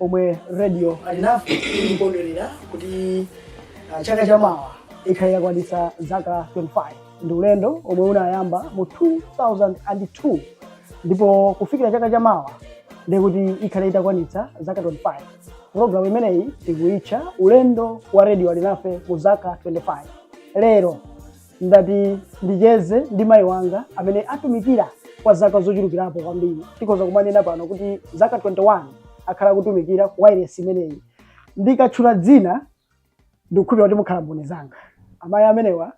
omwe radio alinafe ikondwerera kuti ah, chaka chamawa ikhale itakwanitsa zaka 25 ndi ulendo omwe unayamba mu 2002 ndipo kufikira chaka chamawa ndikuti ikhale itakwanitsa zaka 25 programu imeneyi tikuitcha ulendo wa radio alinafe mu zaka 25 lero ndati ndicheze ndi mayi wanga amene atumikira kwa zaka zochulukirapo kwambiri tikhoza kumanena pano kuti zaka 21 akhala akutumikira ku wailesi imeneyi ndikatchula dzina ndikukhulupira kuti mukhala mboni zanga amayi amenewa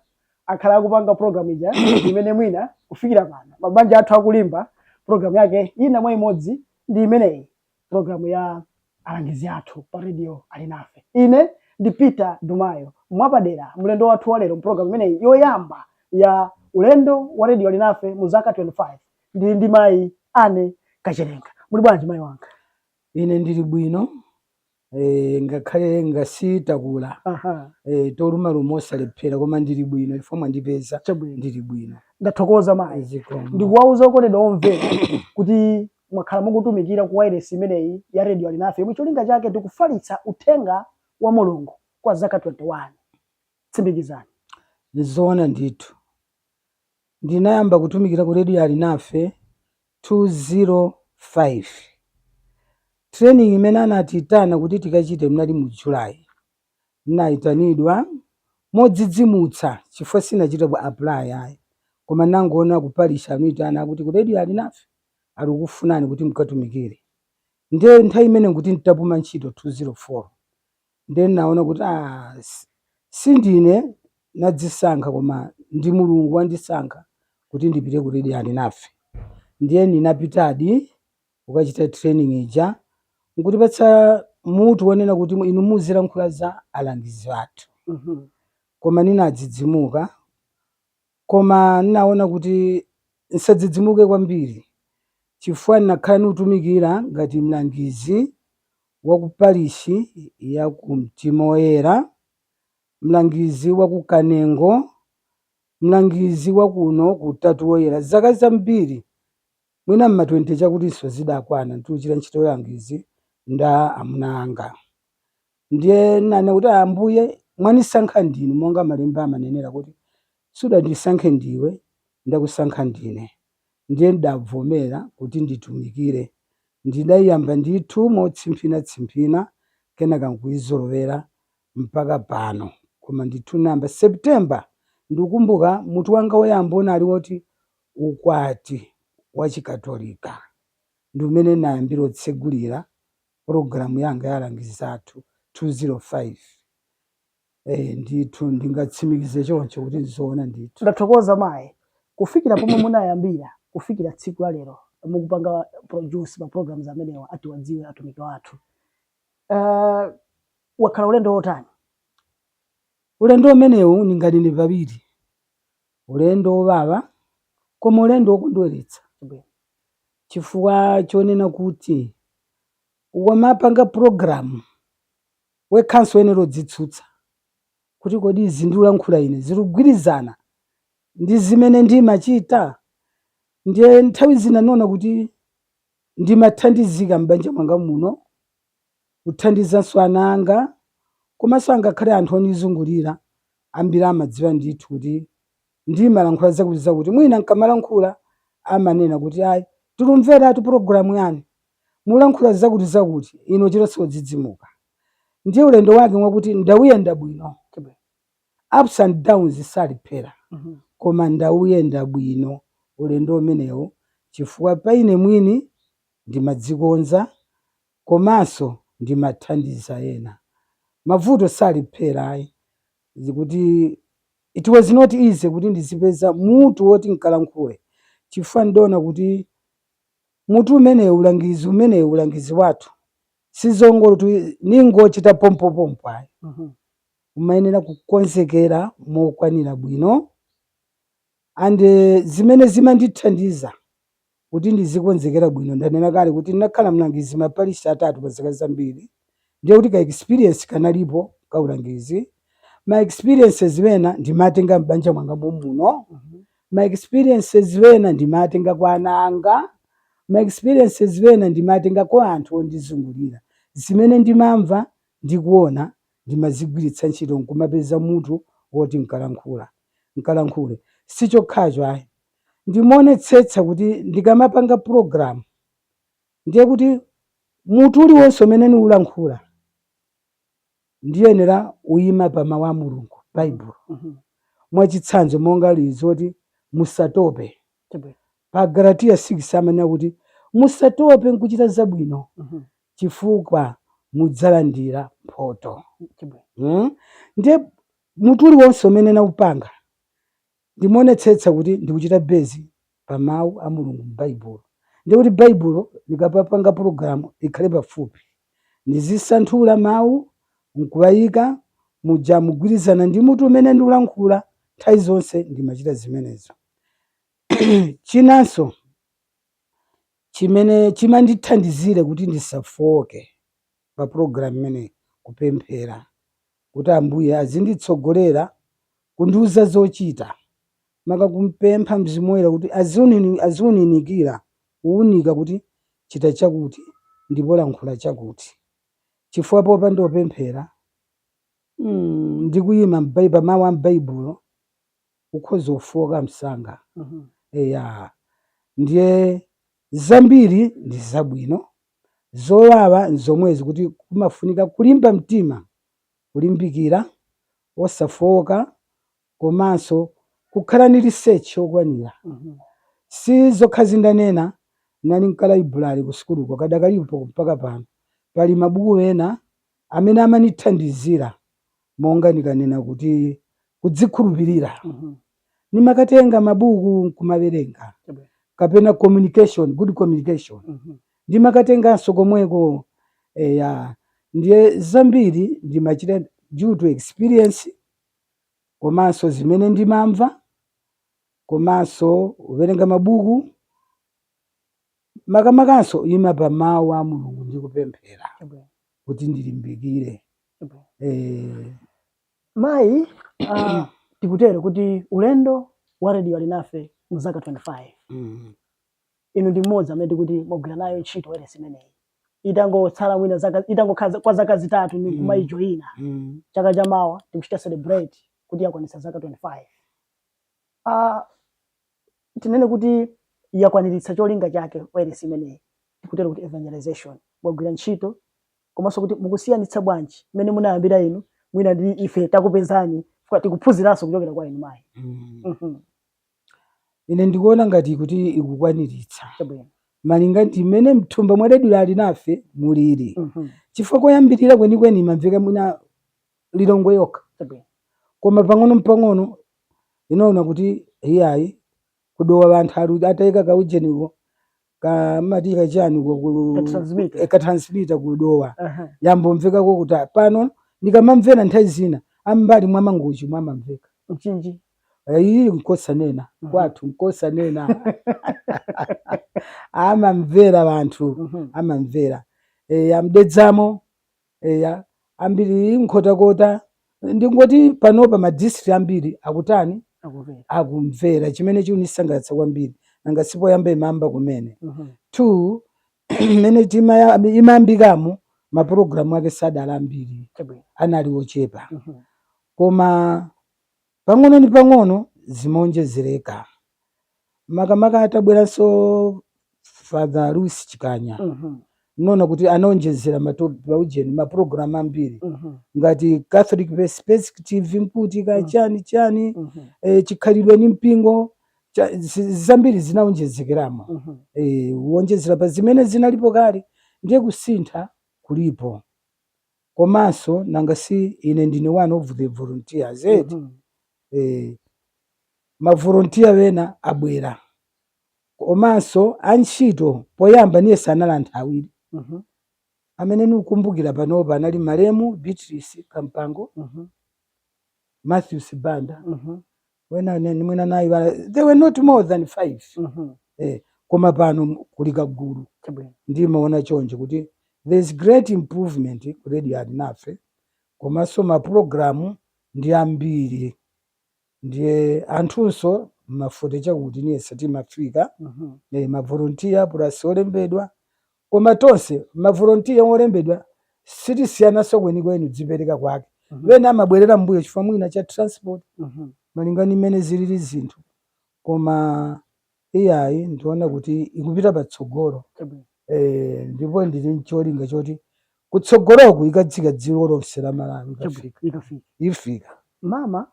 akhala akupanga program ija imene mwina kufikira pano mabanja athu akulimba program yake ina mwa imodzi ndi imeneyi Programu ya alangizi athu pa radio Alinafe. Ine ndi Peter Dumayo. Mwapadera, mlendo wathu wa lero mpulogalamu imeneyi yoyamba ya ulendo wa radio Alinafe mu zaka 25 ndili ndi mayi Anne Kachelenga. Muli bwanji mayi wanga? Ine ndili bwino, ee ngakhale ngati takula aha ee tolumaluma sitilephera koma ndili bwino chifukwa mwandipeza chabwino ndili bwino ndathokoza mayi zikomo ndikuwauza okondedwa omvera kuti mwakhala mukutumikira ku wailesi imeneyi ya redio alinafe yomwe cholinga chake ndikufalitsa uthenga wa mulungu kwa zaka 21 tsimikizani ndizoona ndithu ndinayamba kutumikira ku redio alinafe 205 training imene anatiitana kuti tikachite munali mu July nnayitanidwa modzidzimutsa chifukwa sinachite ku apply ayi koma nnangoona ku parish anandiitana kuti ku radio Alinafe alikufunani kuti mkatumikire nde nthawi imene nkuti ntapuma ntchito 204 Ndiye n'naona kuti aah si ndine nadzisankha koma ndi Mulungu wandisankha kuti ndipite ku radio Alinafe. Ndiye ndinapitadi kukachita training ija n'kutipatsa mutu wonena kuti inu muzilankhula za alangizi athu. Koma ndinadzidzimuka. Koma n'naona kuti n'sadzidzimuke kwambili cifukwa n'nakhala niutumikila ngati mlangizi wa ku parishi ya ku Mtima Woyela, mlangizi wa ku Kanengo, mlangizi wa kuno ku Utatu Woyela zaka zambili, mwina m'ma 20 cakutinso zidakwana, tikucita nchito ya ulangizi ndi amuna anga. Ndiye n'nanena kuti, Ambuye, mwanisankha ndinu, monga Malemba amanenera kuti, Sudandisankhe ndiwe, ndakusankha ndine. Ndiye n'dabvomera kuti nditumikire. Ndidaiyamba ndithu motsimphina-tsimphina, kenaka n'kuizolowera mpaka pano. Koma ndithu n'nayamba September! Ndikukumbuka mutu wanga woyamba unali woti Ukwati Wachikatolika. Ndi umene n'nayambira otsegulira. pulogalamu yanga ya alangizi athu 205 ee ndithu ndingatsimikize choncho kuti ndizoona ndithu. Ndathokoza mayi. Kufikira pomwe munayambira kufikira tsiku la lero mukupanga produce ma programs amenewa atiwadziwe atumiki wathu aah wakhala ulendo wotani? Ulendo umenewu ndinganene pawiri Ulendo wowawa, koma ulendo wokondweretsa. Chifukwa chonena kuti ukamapanga pulogalamu wekhanso uyenero dzitsutsa kuti, Kodi izi ndiulankhula ine zikugwirizana ndi zimene ndimachita? Ndiye nthawi zina ndimaona kuti ndimathandizika m'banja mwanga muno kuthandizanso ana anga komanso angakhale anthu onizungulira ambiri amadziwa ndithu kuti ndimalankhula zakuti zakuti mwina nkamalankhula amanena kuti ayi tilumveratu pulogalamu yanu mulankhula zakuti zakuti ine n'chilonso odzidzimuka ndiye ulendo wake mwakuti ndauyenda bwino ups and downs salephera koma ndauyenda bwino ulendo umenewo chifukwa pa ine mwini Ndimadzikonza komanso ndimathandiza ena. Mavuto salephera ayi kuti it was not easy kuti ndizipeza mutu woti nkalankhule chifukwa ndidaona kuti mutu umenewu ulangizi umenewu ulangizi wathu sizongoti n'ngochita pompopompo ayi umayenera kukonzekera mokwanira bwino and zimene zimandithandiza Kuti ndizikonzekera bwino, ndanena kale kuti ndinakhala mlangizi maparishi atatu pa zaka zambiri, ndiye kuti ka experience kanalipo ka ulangizi. Ma experiences ena ndimatenga m'banja mwanga momuno, ma experiences ena ndimatenga kwa ana anga, ma experiences ena ndimatenga kwa anthu ondizungulira. Zimene ndimamva ndi kuona ndimazigwiritsa ntchito n'kumapeza mutu woti n'kalankhula, n'kalankhule. Si chokhacho ayi. Ndimaonetsetsa kuti ndikamapanga program ndiye kuti mutu uliwonse umene niulankhula ndiyenera uima pa mawu a Mulungu, Baibulo. Mhm. Mwachitsanzo monga ili loti musatope. Chabwino. Pa Galatiya 6 amanena kuti musatope nkuchita zabwino Mhm. chifukwa mudzalandira mphoto. Chabwino. Mm? Ndiye mutu uliwonse umene naupanga Ndimaonetsetsa kuti ndikuchita base pa mau a Mulungu mu Baibulo. Ndiye kuti Baibulo ndikamapanga program likhale pafupi. Ndizisanthula mau nkuwayika muja mogwirizana ndi mutu umene ndikulankhula. Nthawi zonse ndimachita zimenezo. Chinanso chimene chimandithandizire kuti ndisafooke. pa program imeneyi kupemphera kuti Ambuye azinditsogolera kundiuza zochita maka kumpempha Mzimu Woyera kuti aziwunikira kuunika kuti chita chakuti ndipo lankhula chakuti chifukwa popanda kupemphera mm, ndi kuyima pa mawu a m'Baibulo ukhoza kufooka msanga eya ndiye zambiri ndi zabwino Zowawa n'zomwezi kuti kumafunika kulimba mtima, kulimbikira, osafooka komanso kukhala ni research yokwanira. Si zokhazo ndanena, nali nkalaibulale kusukuluko, kadakalipo mpaka pano, pali mabuku ena amene amanithandizira monga ndikanena kuti kudzikhulupirira, nimakatenga mabuku n'kumawerenga kapena communication, good communication ndimakatenganso komweko. Eya, ndiye zambiri ndimachita due to experience komanso zimene ndimamva komanso kuwerenga mabuku. makamakanso kuima pa mawu a mulungu ndi kupemphera Chabwino. kuti ndilimbikire Chabwino. eh, mayi ah, tikutero kuti ulendo wa Radio Alinafe mu zaka 25 mm, inu ndi mmodzi amene tikuti mwagwira nayo ntchito wailesi imeneyi itangotsala mwina zaka itangokhala za- kwa zaka zitatu ni Mm. kumayijoyina mm. chaka cha mawa tikuchita celebrate kuti yakwanitsa zaka 25 ah, tinene kuti yakwaniritsa cholinga chake wailesi imeneyi tikutero kuti evangelization mwagwira ntchito komanso kuti mukusiyanitsa bwanji mmene munayambira inu mwina ndi ife takupezani chifukwa tikuphunziranso kuchokera kwa inu mayi Mm. Mhm, ine ndikuona ngati kuti ikukwaniritsa chabwino malinga ndi mmene mthumba mwa Radio Alinafe mulili Mhm, chifukwa koyambirira kwenikweni imamveka mwina Lilongwe yokha chabwino koma pang'ono n'pang'ono inaona kuti iyayi ku Dowa anthu ataika kaujeniko kamati kachani ko ku Ka transmitter. eh, ka transmitter ku Dowa Aha. yayamba kumvekako kuti ah, pano ndikamamvera nthawi zina a mbali mwa Mangochi mwamamveka Mchinji. Eh, iyi nkosanena Mhm. kwathu nkosanena amamvera anthu Mhm. amamvera e, a m'Dedzamo Eya, ambiri nkhotakota. Ndingoti panopa ma district ambiri akutani? akumvera akumvera chimene chikundisangalatsa kwambiri nanga sipoyamba imayamba kumene Mhm. Tu mmene timaya- imayambikamo mapulogalamu ake sadali ambiri anali ochepa Mhm. koma Pang'ono ndi pang'ono zimawonjezereka makamaka atabweranso father Louis Chikanya ndinaona kuti anawonjezera matopic pa ujeni maprogram ambiri ngati Catholic Pers- perspective nkuti kaya chani chani eh, chikhalidwe ni mpingo cha- zi- zambiri zinawonjezekeramo eh, kuwonjezera pa zimene zinalipo kale ndiye kusintha kulipo Komanso nanga si ine ndine one of the volunteers eti Mhm. eh, mavolontiya wena abwera komanso antchito poyamba ndiye sanali, anali anthu awiri Mhm. amene nikukumbukira panopa anali malemu Beatrice Kampango Mhm. Matthew Sibanda Mhm. wena anene mwina nayi bala they were not more than five Mhm. eh, koma pano m- kuli kagulu Chabwino. ndimaona choncho kuti there's great improvement ku Radio Alinafe komanso mapulogalamu ndi ambiri ndiye anthunso mafote chakuti niyese timafika Mhm. eh, mavolontiya pulasi olembedwa Koma tonse mavolontiya olembedwa sitisiyananso kwenikweni kudzipereka kwake. Ena amabwerera m'mbuyo chifukwa mwina cha transport malinga ndi mmene zilili zinthu koma iyayi ndiona kuti ikupita patsogolo eh, ndipo ndili ncholinga choti kutsogoloku ikadzafika dziko lonse la Malawi ikafika. Ikafika. Ifika. Mama.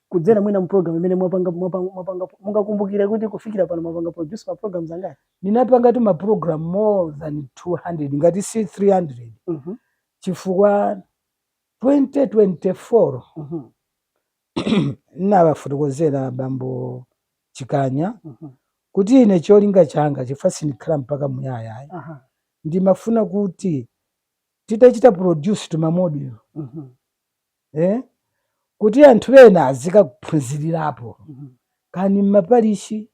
kudzera mwina mu program imene mwapanga mwapanga mwapanga mungakumbukire kuti kufikira pano mwapanga produce ma programs angati ndinapangatu ma program more than 200 ngati si 300 Mhm, chifukwa 2024 mhm, ndinawafotokozera bambo Chikanya mhm. kuti ine cholinga changa chifukwa sindikhala mpaka muyaya ayi. Aha, ndimafuna kuti titachita produce tumamodulo mhm, eh, kuti anthu ena azikaphunzirirapo kani mmaparishi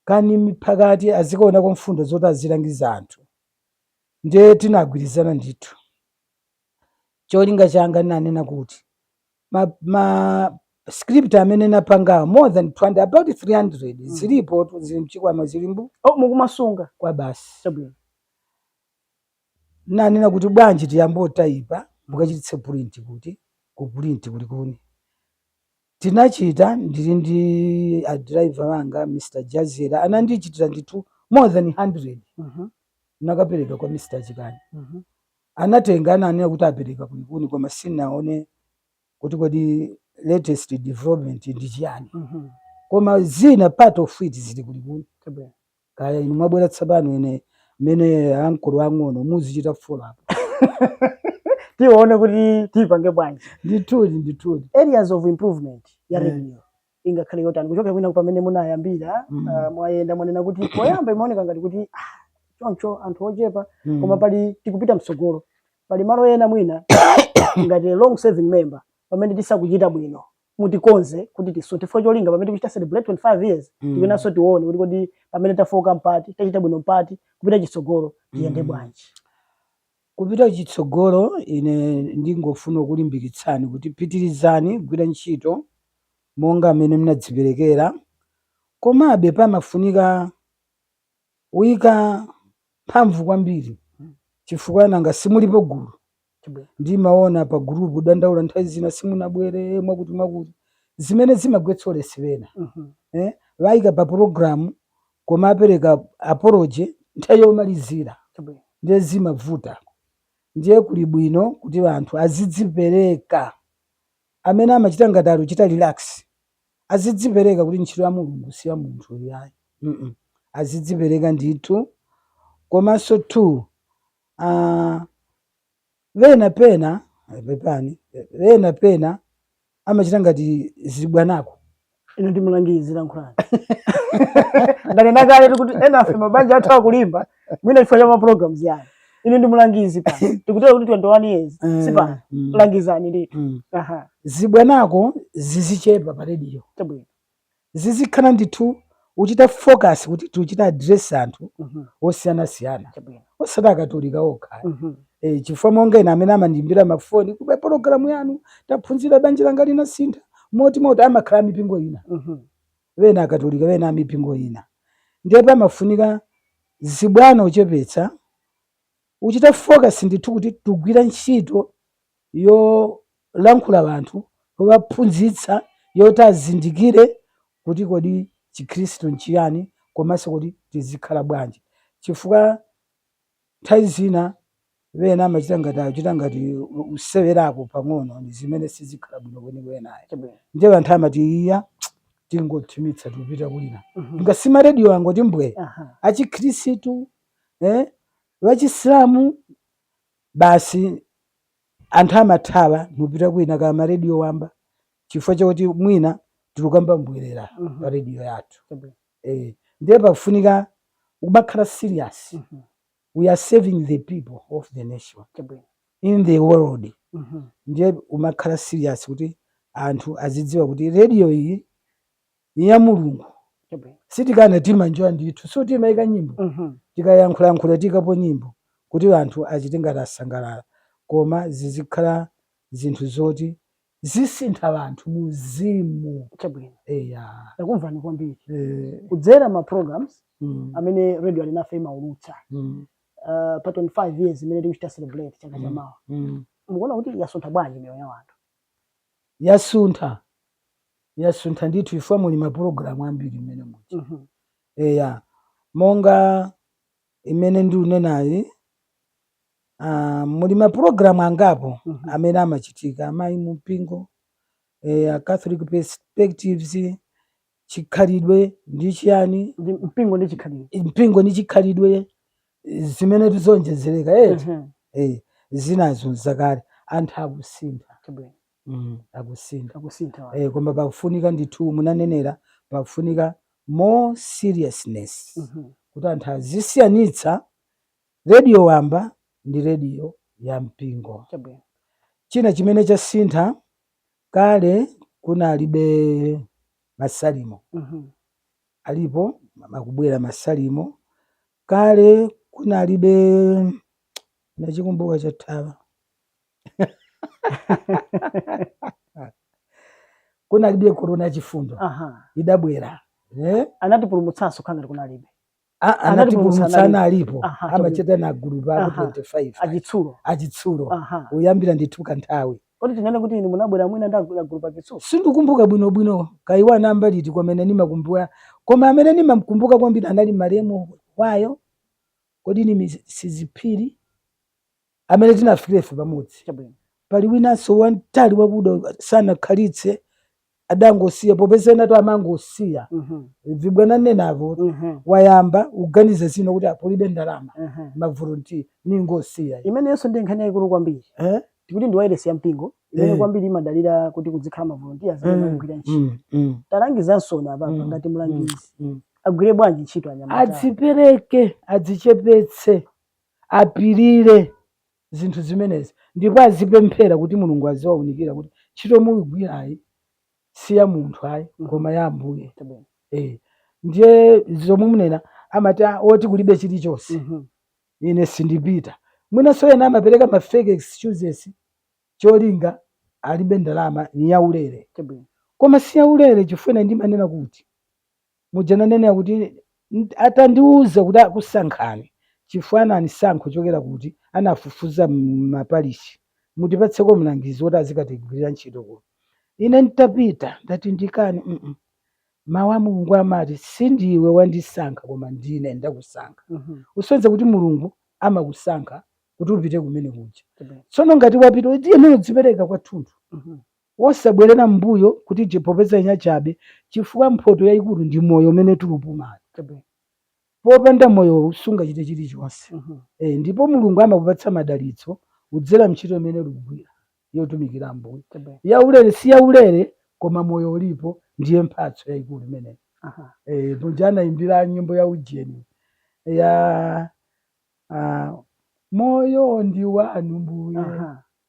kani m'miphakati azikaonako mfundo zoti azilangiza anthu ndiye tinagwirizana ndithu cholinga changa ndinanena kuti ma, ma script amene napangawo more than 200 about 300 mm. zilipo zili mchikwama zilimbu oh, mukumasungako basi Ndinanena kuti bwanji tiyambe kutaipa mukachititse purinti kuti ku purinti ku Likuni. Tinachita ndili ndi a driver anga Mr Jazera anandichitira ndithu more than 100 nakapereka kwa Mr Chikani. Anatenga ananena kuti apereka ku Likuni koma sindinaone kuti kodi latest development ndi chiyani. Koma zina part of it zili ku Likuni. Kaya inu mwabwera tsopano, ine mmene ankolo ang'ono muzichita follow up tione kuti tipange bwanji ndithudi ndithudi areas of improvement ya Yeah. radio ingakhale yotani kuchokera kwina pamene munayambira Mm. ah, mwayenda mwanena kuti poyamba imaoneka ngati kuti ah, choncho anthu ochepa Mm. koma pali tikupita mtsogolo pali malo ena mwina ngati long serving member pamene sitikuchita bwino mutikonze kuti tisinthe cholinga pamene tikuchita celebrate 25 years mm. ifenso tione kuti kodi pamene tafoka mpati tachita bwino mpati kupita chitsogolo tiyende mm. bwanji kupita chitsogolo ine ndingofuna kulimbikitsani kuti pitirizani kugwira ntchito monga amene mnadziperekera komabe pamafunika kuyika mphamvu kwambiri chifukwa nanga simulipo gulu Chabwino. Ndimaona pa group kudandaula nthawi zina simunabwere mwakuti mwakuti. Zimene zimagwetsa ulesi pena. Eh? Waika pa program koma apereka apology nthawi yomalizira. Chabwino. Ndiye zimavuta. Ndiye kuli bwino kuti anthu azidzipereka. Amene amachita ngati akuchita relax azidzipereka kuti ntchito ya Mulungu si ya munthu iyayi. Mm. Azidzipereka ndithu. Komanso 2. Aaa ena pena pepani ena pena amachita ngati zibwanako ino ndi mlangizi lankhulani ndanena kale kuti enafe mabanja athu akulimba mwina chifukwa cha ma programs yani ino ndi mlangizi pa tikutera kuti 21 years eh, si pa mm. langizani ndithu mm. zibwanako zizichepa pa radio chabwino zizikhala ndithu kuchita focus kuti tikuchita address anthu Mhm. osiyanasiyana Chabwino. osati akatolika okha Mhm. e, chifukwa monga ine amene amandiimbira mafoni kuti pa pologalamu yanu taphunzira banja langa linasintha moti moti amakhala amipingo ina Mhm. wena akatolika wena amipingo ina ndiye pamafunika zibwana kuchepetsa Kuchita focus ndithu kuti tikugwira ntchito yolankhula anthu yowaphunzitsa yoti azindikire kuti kodi chikhristu nchiyani komanso kuti tizikhala bwanji chifukwa nthawi zina ena amachita ngati akuchita ngati kusewerako pang'ono ndi zimene sizikhala bwino kwenikweni ayi Chabwino. ndiye anthu amati iya tingothimitsa tikupita kwina Mhm. nanga si ma radio angoti mbwe Aha. achikhristu eh vachisilamu basi anthu amathawa nupita kwina ku marediyo wamba chifukwa chakuti mwina tilukamba mbwerera Mhm. pa rediyo yathu Chabwino. eh, ndiye pakufunika kumakhala serious Mhm. we are serving the people of the nation Chabwino. in the world Mhm. ndiye kumakhala serious kuti anthu azidziwa kuti radio iyi ni ya mulungu Chabwino. sitikana timanjoya ndithu so timayika nyimbo Mhm. tikayankhulayankhula tiikapo nyimbo kuti anthu achite ngati asangalala koma zizikhala zinthu zoti zisintha anthu muzimu Chabwino. eya Ndakumvani kwambiri. eh, Kudzera ma programs mm, amene radio alinafe imaulutsa mm, uh, pa 25 years imene tikuchita celebrate chaka cha mm, mawa. mm. Mukuona kuti yasuntha bwanji miyoyo ya anthu? yasuntha yasuntha ndithu chifukwa muli mapulogalamu ambiri mmene muja Mhm. eya monga imene ndikunenayi ah, muli mapulogalamu angapo Mhm. amene amachitika amayi mu mpingo eya catholic perspectives chikhalidwe ndi chiyani mpingo ndi chikhalidwe mpingo ndi chikhalidwe zimene zizonjezereka eti Mhm. eh, zinazo zakale anthu akusintha Chabwino. mm, akusintha akusintha wa. eh, koma pakufunika ndithu munanenera pakufunika more seriousness Mhm. kuti anthu azisiyanitsa rediyo wamba ndi rediyo ya mpingo Chabwino. china chimene chasintha Kale kunalibe masalimo Mhm. alipo amakubwera masalimo kale kunalibe nachikumbuka chathawa kunalibe korona yachifundo Aha. idabwera eh? Anatipulumutsanso ukhala ngati kunalibe. Ah, Anatipulumutsa anatipulumutsa anali- analipo Aha, amachita na agulupa akulu Aha. 25 achitsulo achitsulo Aha. uyambira ndithu kanthawi kodi tinene kuti inu munabwera mwina ndi agulupa agulupa Chitsulo sindikumbuka bwinobwino kaya anayamba liti komano nimakumbuka koma amene nimamkumbuka kwambiri anali malemu awo kodi ni Miss Sizi Phiri amene tinafikira ife pamodzi. Chabwino. Pali winanso wamtali wakuda uyu, sanakhalitse adangosiya popeza enatu amangosiya Mhm. vibwana enanso Mhm. wayamba uganiza zina kuti apa palibe ndalama Mhm. mavolontiya ningosiya imeneyonso ndi nkhani yayikulu kwambiri Eh? tikuti ndi wailesi ya mpingo imene Eh. kwambiri imadalira kuti kudzikhala mavolontiya amene Mm, akugwira ntchito mm, mm, talangizansoni apapa Mm, ngati mlangizi mm. agwire bwanji ntchito anyamata adzipereke adzichepetse apirire zinthu zimenezi ndipo azipemphera kuti Mulungu aziwaunikira kuti ntchito mulugwirayi si ya munthu ayi Mhm. koma ya Ambuye. Chabwino. Eh, ndiye zomwe munena amati "Ah, oti kulibe chilichonse Mhm. ine sindipita mwinanso ena amapereka ma fake excuses cholinga alibe ndalama ni yaulere Chabwino. koma si yaulere chifukwa ine ndimanena kuti Muja nanenera kuti atandiuza kuti akusankhani chifukwa ananisankha kuchokera kuti anafufuza m'maparishi, mutipatseko mlangizi woti azikatigwirira ntchito kuno. Ine n'tapita, ndati ndikane Mawu a Mulungu amati, si ndiwe wandisankha koma ndine ndakusankha. Kusonyeza kuti Mulungu amakusankha kuti upite kumene kuja. Tsono ngati wapita, uyenera kudzipereka kwathunthu. wosabwerera m'mbuyo kuti iii popeza n'yachabe chifukwa mphoto yaikulu ndi moyo umene tulupumawu chabwino popanda moyowu sungachite chilichonse e ndipo mulungu amakupatsa madalitso kudzera m'ntchito imene ulugwira yotumikira ambuye yaulere si yaulere koma moyo ulipo ndiye mphatso yaikulu imeneyo e muja anaimbira nyimbo ya ujeni ya ah, moyo ndi wanu mbuye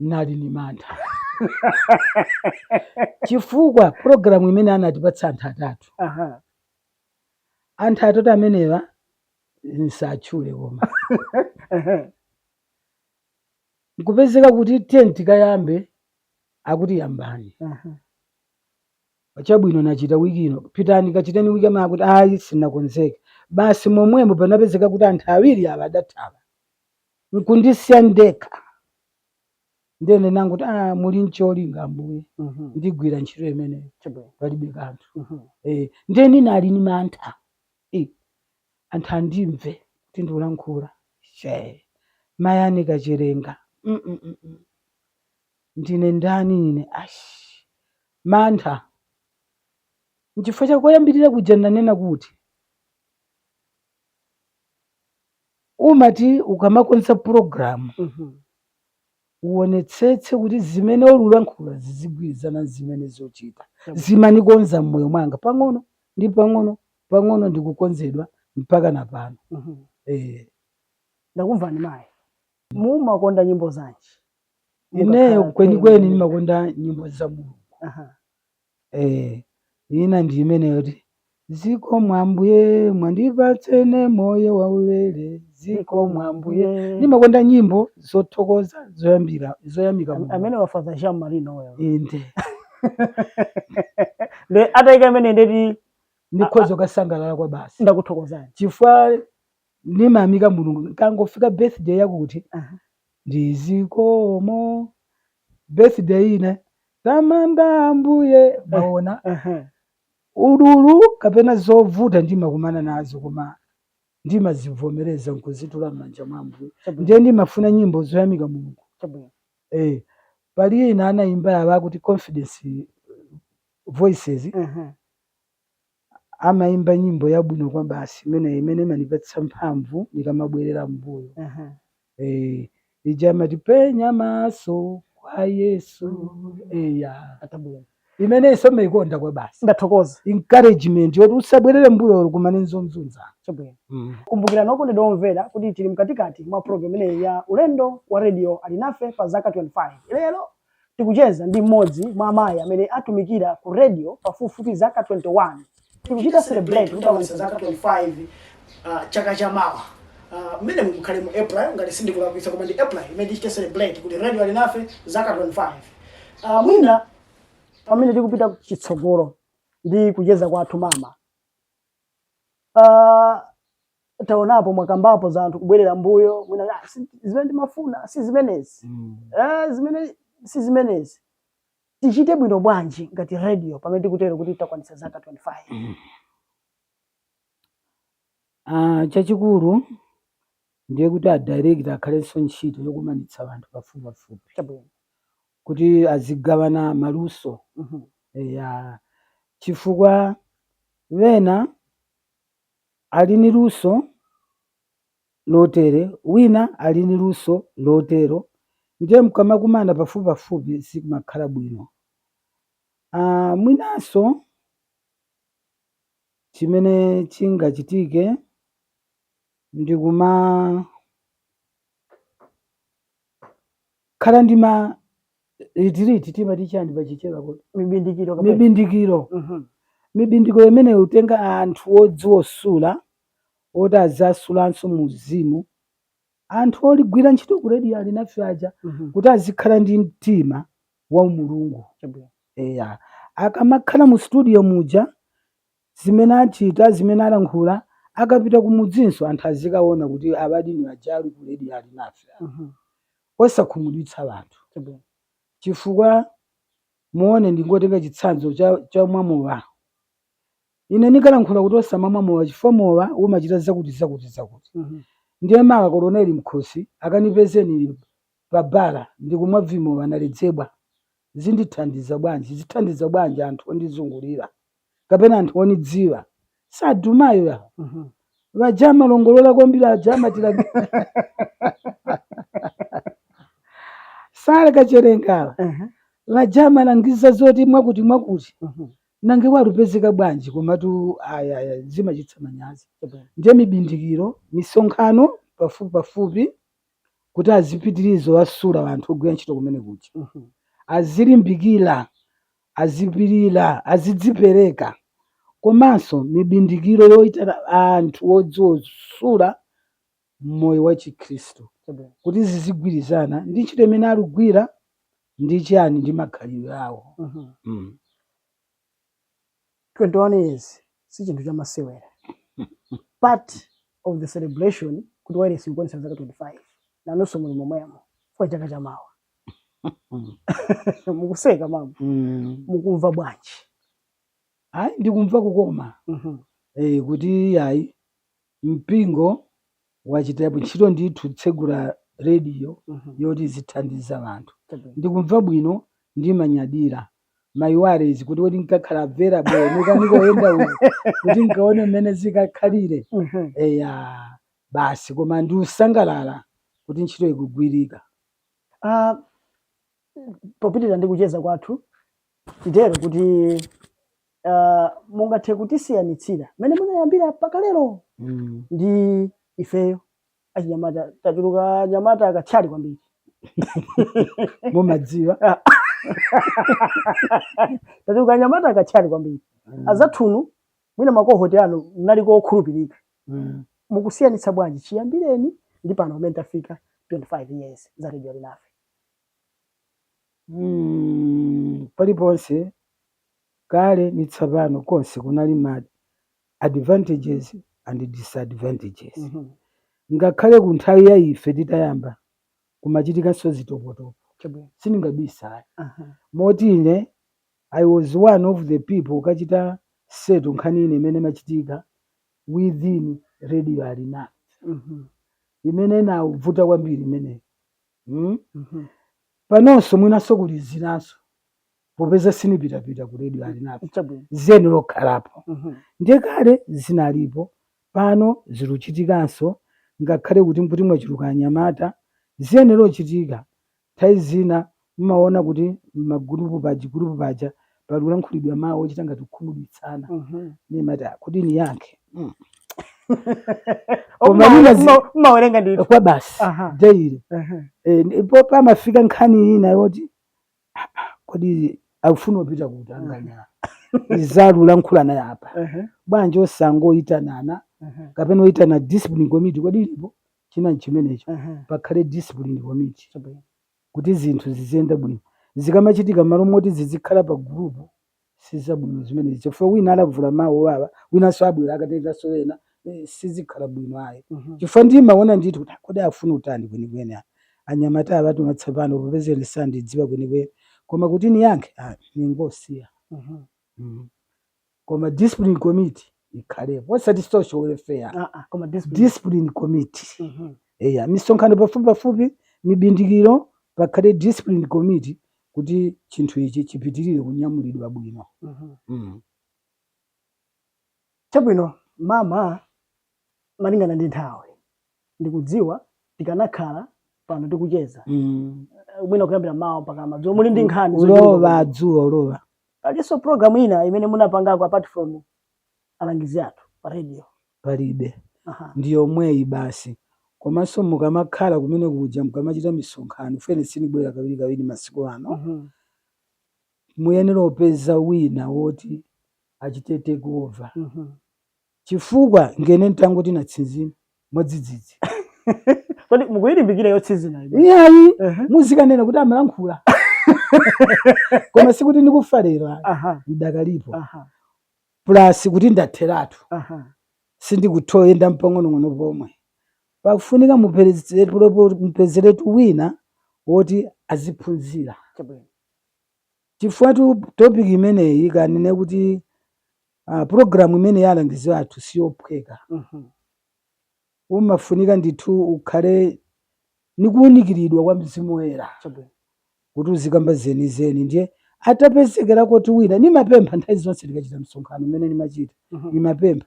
N'nali ni mantha chifukwa pulogilamu imene anatipatsa anthu atatu, anthu atatu amenewa n'satchule koma, n'kupezeka kuti tiyeni tikayambe akuti yambani, chabwino nachita wiki ino, pitani kachiteni wiki yamawa akuti ayi sinakonzeka, basi momwemo panapezeka kuti anthu awiri awa adathawa. n'kundisiya ndekha. Ndiye ndinangoti, Ah, muli n'cholinga Ambuye, Mhm. ndigwira ntchito imeneyo, Chabwino. palibe kanthu. Mhm. Eh, ndiye ndinali ni mantha Eh, anthu andimve kuti ndiulankhula mayi Anne Kachelenga Mm, mm, mm, mm. ndine ndani ine ashi mantha nchifukwa chakoyambirira kuja ndanena kuti Umati ukamakonza program uwonetsetse kuti zimene ululankhula zizigwirizana nzimene uzochita zimanikonza mmoyo mwanga pang'ono ndi pang'ono pang'ono ndikukonzedwa mpaka na pano eh. Ndakumvani mayi. Mumakonda nyimbo zanji? Ineyo kwenikweni ndimakonda nyimbo za Mulungu. Aha. Eee ina ndi imeneyoti zikomo ambuye mwandipatsa ine moyo waulere zikomo ambuye ndimakonda nyimbo zothokoza zoyamika Mulungu. amene wa Father Jean Marie Noel inde lero ataika imeneyo ndiye kuti ndikhoza kukasangalala kwabasi ndakuthokozani chifukwa ndimayamika mulungu nkangofika birthday yakuti Aha. ndi zikomo birthday ina tamanda ambuye mwaona Aha. ululu kapena zovuta ndimakumana nazo koma ndimazivomereza nkuzitula m'manja mwa ambuye Chabwino. ndiye ndimafuna nyimbo zoyamika mulungu Chabwino. eh, pali ina anayimba ya akuti confidence voices Aha. amaimba nyimbo yabwino kwabasi imeneyi imene imanipatsa mphamvu nikamabwerera m'mbuyo Aha. Eh, ija amati penya maso kwa yesu eya Atabwera. imeneyinso ndimaikonda kwabasi Ndathokoza. encouragement yoti usabwerere mbuyo ukakumana nzonzunza Chabwino. mm. Kumbukirani okondedwa omvera kuti tili mkatikati mwa program imeneyi ya ulendo wa radio alinafe pa zaka 25 lero Tikucheza ndi mmodzi mwa amayi amene atumikira ku radio pafupifupi zaka 21. Tikuchita celebrate kutakwanitsa zaka 25 uh, chaka cha mawa uh, mmene mukhale mu april ngati sindikulakwitsa koma ndi april imene tichite celebrate kuti radio alinafe zaka 25 uh, mwina pamene tikupita chitsogolo ndi kucheza kwathu mama Ah, taonapo mwakambapo za anthu kubwerera mbuyo mwina "Ah, si- zimene ndimafuna si zimenezi Mm. Eh, zimene si zimenezi tichite bwino bwanji ngati radio pamene tikutero kuti takwanitsa zaka 25 Ah, chachikulu ndiye kuti adirekta akhalenso ntchito yokumanitsa anthu pafupipafupi chabwino kuti azigawana maluso eya chifukwa wena ali ni luso lotere wina ali ni luso lotero ndiye mkamakumana pafupipafupi zimakhala bwino uh, mwinanso chimene chingachitike ndikuma khala ndi ma retreat timati chani pa chichewa kuti mibindikiro kapena mibindikiro Mhm. mibindikiro imene utenga anthu odziwa kusula oti azawasulanso mu uzimu anthu oligwira ntchito ku redio alinafe aja Mhm. kuti azikhala ndi mtima wa umulungu Chabwino. eya akamakhala mu studio muja Zimene achita, zimene alankhula, akapita kumudzinso anthu azikaona kuti a Badini aja ali ku radio ali nafe apa. Osakhumudwitsa anthu. Chifukwa muone ndingotenga chitsanzo cha cha mwa mowa. Ine ndikalankhula kuti osamamwa mowa chifukwa mowa umachita zakuti zakuti zakuti. Ndiye mawa Koloneli Mkhosi akanipeze ndili pa bala ndikumwa vimowa naledzera. zindithandiza bwanji, zithandiza bwanji anthu ondizungulira kapena anthu onidziwa sadumayo ya Mhm. vaja amalongolola kwambiri aja amatira sale kachelenga Ehe. vaja amalangiza zoti mwakuti mwakuti Mhm. nanga walupezeka bwanji komatu ayaya zimachitsa manyazi Chabwino. ndiye mibindikiro misonkhano pafupi pafupi kuti azipitiliza kuwasula anthu ogwira ntchito kumene kuja azilimbikila azipilila azidzipereka komanso mibindikiro yoyitana anthu odziwasula mmoyo wa chikhristu kuti zizigwirizana ndi ntchito imene alugwira ndi chani ndi makhalidwe awo mm. 21 years si chinthu chamasewera part of the celebration kuti wailesi ikukwanitsa zaka 25 nanunso muli momwemo chifukwa chaka cha mawa mukuseka mama Mm. mukumva bwanji ayi ndikumva kukoma Mhm. eh, kuti ayi Mpingo wachitapo ntchito ndithu kutsegula radio yoti izithandiza anthu. Chabwino. Ndikumva bwino ndimanyadira my worries kuti kodi nkakhala available muka ndikoyenda uko kuti nkaone mmene zikakhalire Mhm. eya basi koma ndikusangalala kuti ntchito ikugwirika. Ah, popitirira ndi kucheza kwathu titero kuti uh, mungathe kutisiyanitsira mmene munayambira mpaka lero Mm. ndi ifeyo achinyamata tachuruka anyamata akathyali kwambiri mumadziwa tachuluka anyamata akathyali kwambiri Mm. azathunu mwina makohoti anu mnaliko okhulupirika Mm. mukusiyanitsa bwanji chiyambireni ndi pano pamene tafika 25 years za radio Alinafe mm, paliponse kale ni tsapano konse kunali ma advantages and disadvantages Mhm. ngakhale ku nthawi ya ife titayamba kumachitikanso zitopotopo Chabwino. sindingabisa Aha. moti ine i was one of the people ukachita settle nkhani ina imene imachitika within radio alina Mhm. imene inabvuta kwambiri imeneyo Hmm? Mhm. panonso mwinanso kuli zinanso popeza sinipitapita ku redio Alinafe Chabwino. ziyenelokhalapo Mhm. ndiye kale zinalipo pano ziluchitikanso ngakhale kuti nkuti mwachuluka anyamata ziyenelochitika nthawi zina mmaona kuti mmagulupu paja gulupu paja pali kulankhulidwa mawu ochita ngati kukhumudwitsana Mhm. nimati "Ah, kodi niyankhe Mm. Koma nina zi- Mma- mmawerenga ndithu kwa basi Aha. daily. Aha. Eh, ndipo pamafika nkhani ina yoti "Ah, ah, kodi akufuna kupita kuti anganya izalulankhulana apa Aha. bwanji osangoyitanana Aha. kapena oyitana discipline committee kodi ilipo china chimenecho Aha. pakhale discipline committee Chabwino. kuti zinthu ziziyenda bwino. Zikamachitika m'malo moti zizikhala pa gulupu sizabwino zimenezi chifukwa wina alavula mau owawa winanso abwera akateronso ena sizikhala bwino ayi chifukwa ndimaona ndithu kuti kodi afuna utani kwenikweni a- anyamata awa ati matsopano popeza ine sandidziwa kwenikweni koma kuti niyankhe ah, ningosiya. Mm. koma discipline committee ikhalepo osati social welfare Ah, ah, koma discipline. discipline committee Mhm. eya misonkhano pafupipafupi mibindikiro pakhale discipline committee kuti chinthu ichi chipitirire kunyamulidwa bwino Mhm. mm. chabwino mama malingana ndi nthawi ndikudziwa tikanakhala pano tikucheza mm. Eh, mwina kuyambira m'mawa mpaka madzulo muli ndi nkhani ulowa adzuwa ulowa palinso program ina imene munapangako apart from alangizi athu pa radio palibe ndi yomweyi basi komanso mukamakhala kumene kuja mukamachita misonkhano fene sinibwera kawiri kawiri masiku ano mm -hmm. muyenera upeza wina woti achite take over mm -hmm. Chifukwa ngene ntangoti natsinzina mwadzidzidzi. Kodi mukuyilimbikira yotsinzina ija? Iyayi, Ehe. muzikanena kuti amalankhula. Koma sikuti ndikufa lero ayi, Aha, ndidakalipo. aha, Plus kuti ndatheratu. aha. sindikuthoyenda mpang'onong'ono pomwe pakufunika mupezeretu wina woti aziphunzira Chabwino. chifukwa topic imeneyi kanene kuti Aaa program imeneyi ya alangizi athu siyophweka mmh umafunika ndithu ukhale ni kuunikiridwa kwa Mzimu Woyera Chabwino. kuti uzikamba zenizeni ndiye atapezekerako wina nimapempha nthawi zonse tikachita msonkhano mmene nimachita mmh nimapempha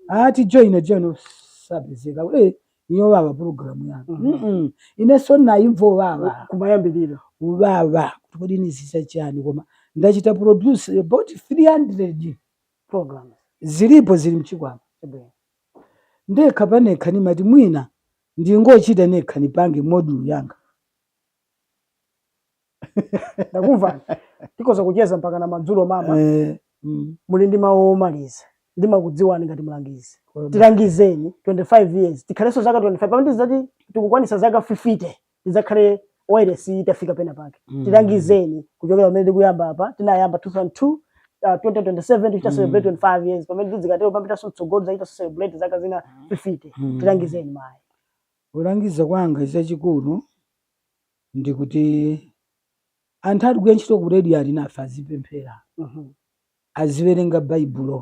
aaa ati ajoine joine osapezeka ee yowawa pulogalamu yanga mm -hmm. inenso ndinayimva uwawa kumayambiriro uwawa kuti kodi niziza chani koma ndachita produce about 300 programs zilipo zili mchikwama ndekha panekha nimati mwina ndingochita nekha nipange module yanga ndakumva tikhoza kucheza mpaka na madzulo mama Eh, mm, muli ndi mawu omaliza ndimakudziwani ngati mlangizi kwaba. tilangizeni 25 years tikhalenso zaka 25 pamene tizidzati tikukwanisa zaka 50 tidzakhale wailesi itafika pena pake Mm. tilangizeni kuchokera pamene tikuyamba apa tinayamba 2002 uh, 2027 tichita Mm. celebrate 25 years pamene tidzikatero popitanso mtsogolo tidzachita celebrate zaka zina 50 Mm. tilangizeni mayi Kulangiza kwanga chachikulu ndi kuti anthu ali kugwira ntchito ku Radio Alinafe azipemphera, aziwerenga Baibulo.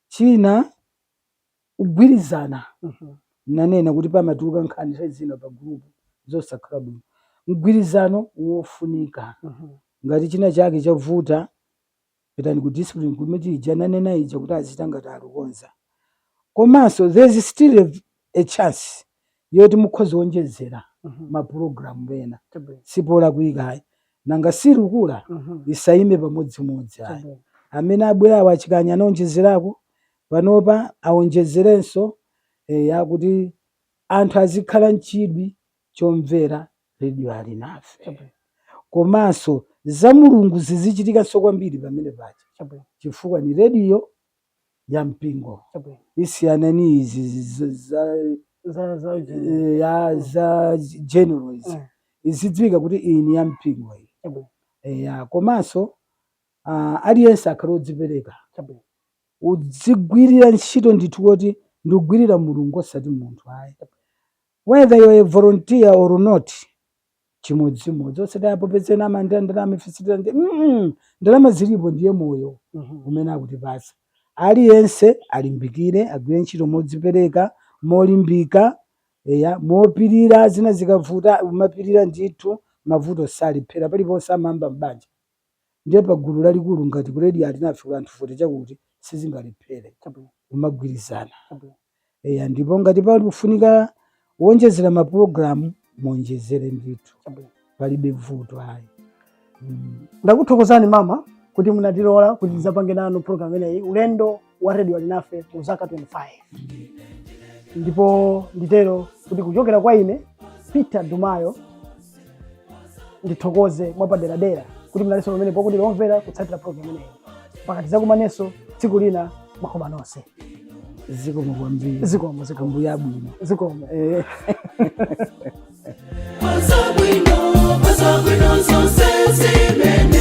China, kugwirizana. Ndinanena kuti pamatuluka nkhani nthawi zina pa group zosakhala bwino. Mgwirizano wofunika. Ngati china chake chavuta, pitani ku discipline committee ija nanena ija kuti azichita ngati alikukonza komanso there's still a, a chance yoti mukhoza onjezera Mhm. mapulogalamu ena Chabwino. si polakwika ayi nanga si ilikukula Mhm. isayime pamodzimodzi ayi Chabwino. amene abwerawo a Chikanya anaonjezerako panopa aonjezerenso eya kuti anthu azikhala mchidwi chomvera Radio Alinafe Chabwino. komanso za Mulungu zizichitikanso kwambiri pamene paja Chabwino. chifukwa ni radio ya mpingo Chabwino. isiyane ni izi zi- zi- za Za za eh, ya za general izi Eh. izidziwika kuti iyi ni ya mpingo iyi Chabwino. eya komanso ah, aliyense akhale odzipereka Chabwino. udzigwirira ntchito ndithu kuti ndikugwirira mulungu osati munthu ayi Whether you're a volunteer or not, chimodzimodzi osati apo ena amalandira ndalama ife sitilandira mm ndalama zilipo ndiye moyo Mhm. umene akutipatsa aliyense alimbikire agwire ntchito modzipereka molimbika eya mopirira zina zikavuta umapirira ndithu mavuto salephera paliponse amayamba m'banja Ndiye pa gulu lalikulu ngati ku Radio Alinafe kuli anthu 40 chakuti sizingalephere kumagwirizana. Eya ndipo ngati pali kufunika kuonjezera ma program muonjezere ndithu palibe vuto ayi. Ndakuthokozani mama kuti munatilola kuti tidzapange nanu program imeneyi ulendo. wa Radio Alinafe mu zaka 25 ndipo nditero kuti kuchokera kwa ine Peter Dumayo ndithokoze mwapaderadera kuti munalinso pomwepo kutimvera kutsatira programu imeneyi mpaka tidzakumanenso tsiku lina makoma nonse zikomo kwambiri zikomo zikomo mbuya bwino zikomo Eh. Zabwino, zabwino zonse zimene